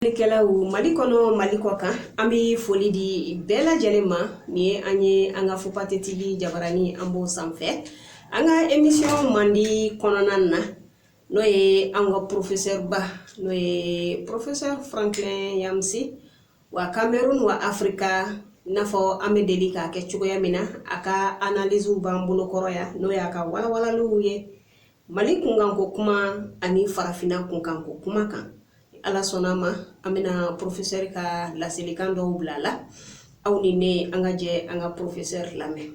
Kɛlaw mali kɔnɔ mali kɔkan an bɛ foli di bɛɛ lajɛlen ma ni ye an ye an ka fupate TV jabaranin an b'o sanfɛ an ka emisiyɔn mandi kɔnɔna na n'o ye an ka porofesɛba n'o ye porofesɛ franklin nyamsi wa kamerun wa afrika n'a fɔ an bɛ deli k'a kɛ cogoya min na a ka analiziw b'an bolokɔrɔ yan n'o y'a ka walawalaliw ye mali kunkanko kuma ani farafinna kunkanko kuma kan ala sɔnna ma an bɛna porofesɛri ka laselikan dɔw bila la aw ni ne an ka jɛ an ka porofesɛri lamɛn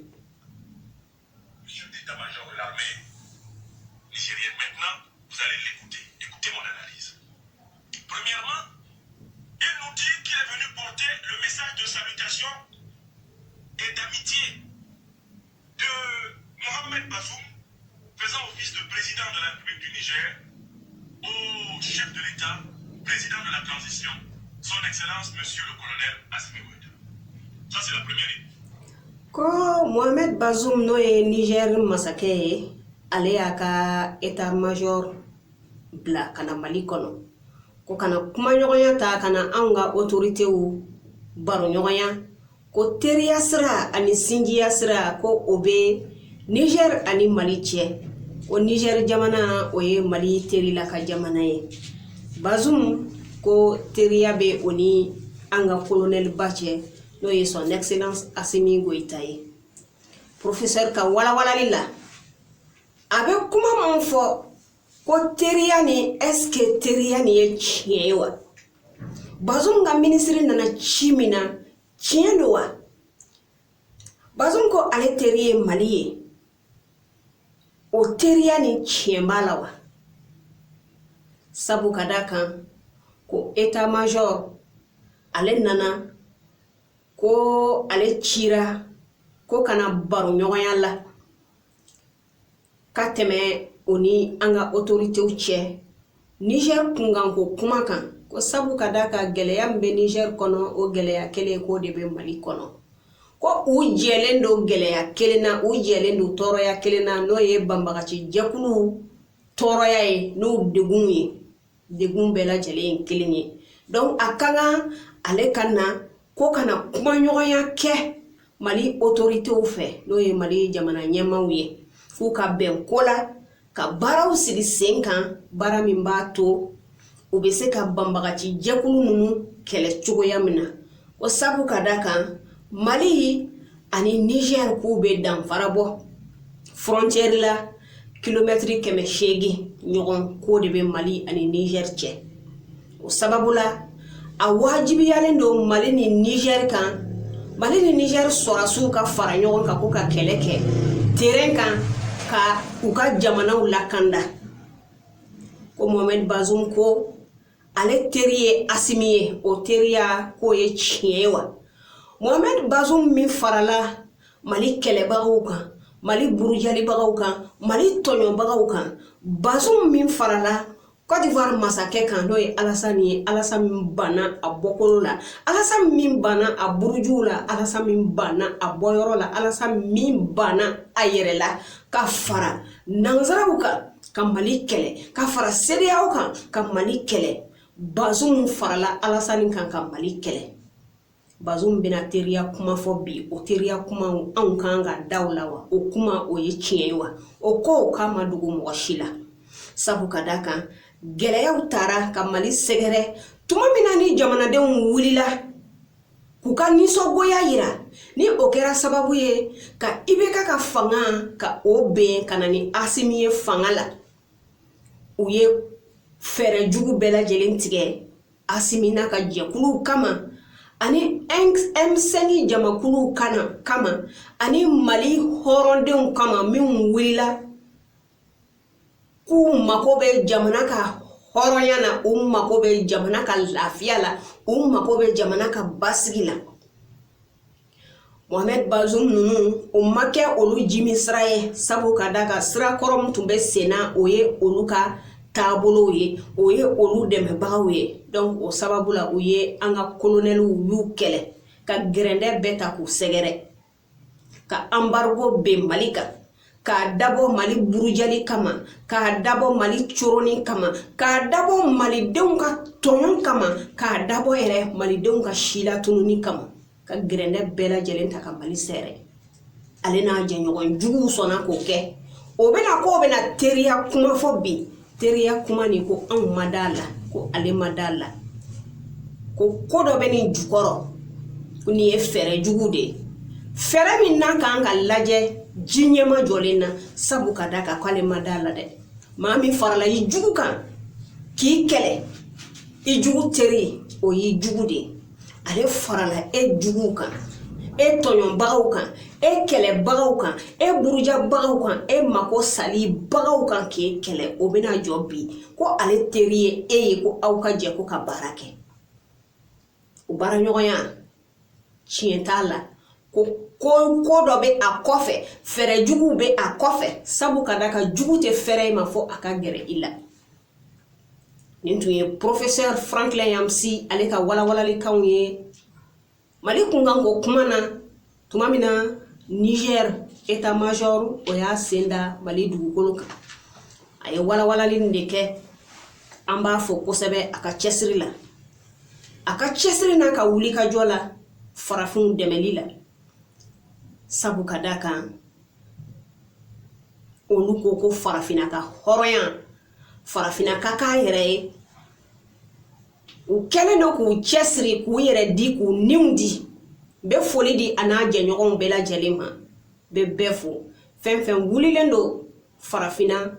Ko mohamɛd bazum n'o ye nizɛri masakɛ ye ale y'a ka etat major bila ka na mali kɔnɔ ko ka na kumaɲɔgɔnya ta ka na anw ka otoritew baroɲɔgɔnya ko teriya sira ani sinjiya sira ko o bɛ niger ani mali cɛ ko niger jamana o ye mali terila ka jamana ye bazum ko teriya bɛ o ni an ka kolonɛliba cɛ n'o ye son excellence asimi goyita ye professeur ka walawalali la a bɛ kuma minnu fɔ ko teriya ni ɛske teriya ni ye tiɲɛ ye wa bazum ka minisiri nana ci min na tiɲɛ don wa bazum ko ale teri ye mali ye o teriya ni tiɲɛ b'a la wa sabu ka da kan ko etat major ale nana ko ale cira ko ka na baroɲɔgɔnya la ka tɛmɛ o ni an ka otoritew cɛ nizɛr kunkanko kuma kan ko sabu ka da kan gɛlɛya min bɛ nizɛr kɔnɔ o gɛlɛya kelen k'o de bɛ mali kɔnɔ ko u jɛlen don gɛlɛya kelen na u jɛlen don tɔɔrɔya kelen na n'o ye banbagaci jɛkuluw tɔɔrɔya ye n'o degun ye degun bɛɛ lajɛlen ye kelen ye dɔnki a ka kan ale ka na ko ka na kumaɲɔgɔnya kɛ mali otoritew fɛ n'o ye mali jamana ɲɛmaaw ye f'u ka bɛn ko la ka baaraw sigi sen kan baara min b'a to u bɛ se ka banbagaci jɛkulu ninnu kɛlɛ cogoya min na O sabu ka da kan mali ani Niger k'u bɛ danfara bɔ frontière la kilomɛtiri kɛmɛ seegin ɲɔgɔn k'o de bɛ mali ani Niger cɛ o sababu la a wajibiyalen don mali ni Niger kan mali ni Niger sɔrɔsiw ka fara ɲɔgɔn kan ko ka kɛlɛ kɛ terrain kan ka u ka jamanaw lakanda ko mohamɛd bazum ko ale teri ye asimi ye o teriya k'o ye tiɲɛ ye wa mohamɛd bazum min farala mali kɛlɛbagaw kan mali burujalibagaw kan mali tɔɲɔbagaw kan bazum min farala Côte d'Ivoire masakɛ kan n'o ye Alassane ye Alassane min banna a bɔkolo la Alassane min banna a burujuw la Alassane min banna a bɔyɔrɔ la Alassane min banna a yɛrɛ la ka fara nanzaraw kan ka mali kɛlɛ ka fara CEDEAO kan ka mali kɛlɛ bazum farala alasani kan ka mali kɛlɛ bazum bɛna teriya kuma fɔ bi o teriya kuma anw kan ka da o la wa o kuma o ye tiɲɛ ye wa o ko k'a ma dogo mɔgɔ si la sabu ka da kan gɛlɛyaw taara ka mali sɛgɛrɛ tuma min na ni jamanadenw wulila k'u ka nisɔngoya yira ni o kɛra sababu ye ka IBK ka fanga ka o ben ka na ni asimi ye fanga la u ye fɛɛrɛ jugu bɛɛ lajɛlen tigɛ asimi n'a ka jɛkuluw kama ani M5 jamakuluw kama ani mali hɔrɔndenw kama minnu wulila k'u mago bɛ jamana ka hɔrɔnya na u mago bɛ jamana ka lafiya la u mago bɛ jamana ka basigi la mohamɛd bazum ninnu o ma kɛ olu jimi sira ye sabu ka da kan sira kɔrɔ min tun bɛ senna o ye olu ka taabolow ye o ye olu dɛmɛbagaw ye donc o sababu la u ye an ka kolonɛliw y'u kɛlɛ ka gɛrɛndɛ bɛɛ ta k'u sɛgɛrɛ ka anbargo ben mali kan k'a dabɔ mali burujali kama k'a dabɔ mali coroni kama k'a dabɔ malidenw ka tɔɲɔ kama k'a dabɔ yɛrɛ malidenw ka silatununi kama ka gɛrɛndɛ bɛɛ lajɛlen ta ka mali sɛɛrɛ ale n'a jɛɲɔgɔn juguw sɔnna k'o kɛ o bɛna k'o bɛna teriya kuma fɔ bi teriya kuma nin ko anw ma d'a la ko ale ma d'a la ko ko dɔ bɛ nin jukɔrɔ ko nin ye fɛɛrɛ jugu de ye fɛɛrɛ min n'a kan ka lajɛ ji ɲɛmajɔlen na sabu ka da kan k'ale ma d'a la dɛ maa min farala i jugu kan k'i kɛlɛ i jugu teri o y'i jugu de ye ale farala e juguw kan e tɔɲɔbagaw kan e kɛlɛbagaw kan e burujabagaw kan e mako salibagaw kan k'e kɛlɛ o bɛna jɔ bi ko ale teri ye e ye ko aw ka jɛ ko ka baara kɛ o baaraɲɔgɔnya tiɲɛ t'a la ko ko ko dɔ bɛ a kɔfɛ fɛɛrɛ juguw bɛ a kɔfɛ sabu ka da kan jugu tɛ fɛrɛ i ma fo a ka gɛrɛ i la nin tun ye professeur franklin nyamsi ale ka walawalalikanw ye mali kunkanko kuma na tuma min na niger état major o y'a sen da mali dugukolo kan a ye walawalali de kɛ an b'a fo kosɛbɛ a ka cɛsiri la a ka cɛsiri n'a ka wulikajɔ la farafinw dɛmɛli la sabu ka da kan olu ko ko farafinna ka hɔrɔnya farafinna ka kɛnyɛrɛye u kɛlen don k'u cɛsiri k'u yɛrɛ di k'u niw di bɛ foli di a n'a jɛɲɔgɔnw bɛɛ lajɛlen ma bɛ bɛɛ fo fɛn fɛn wulilen don farafinna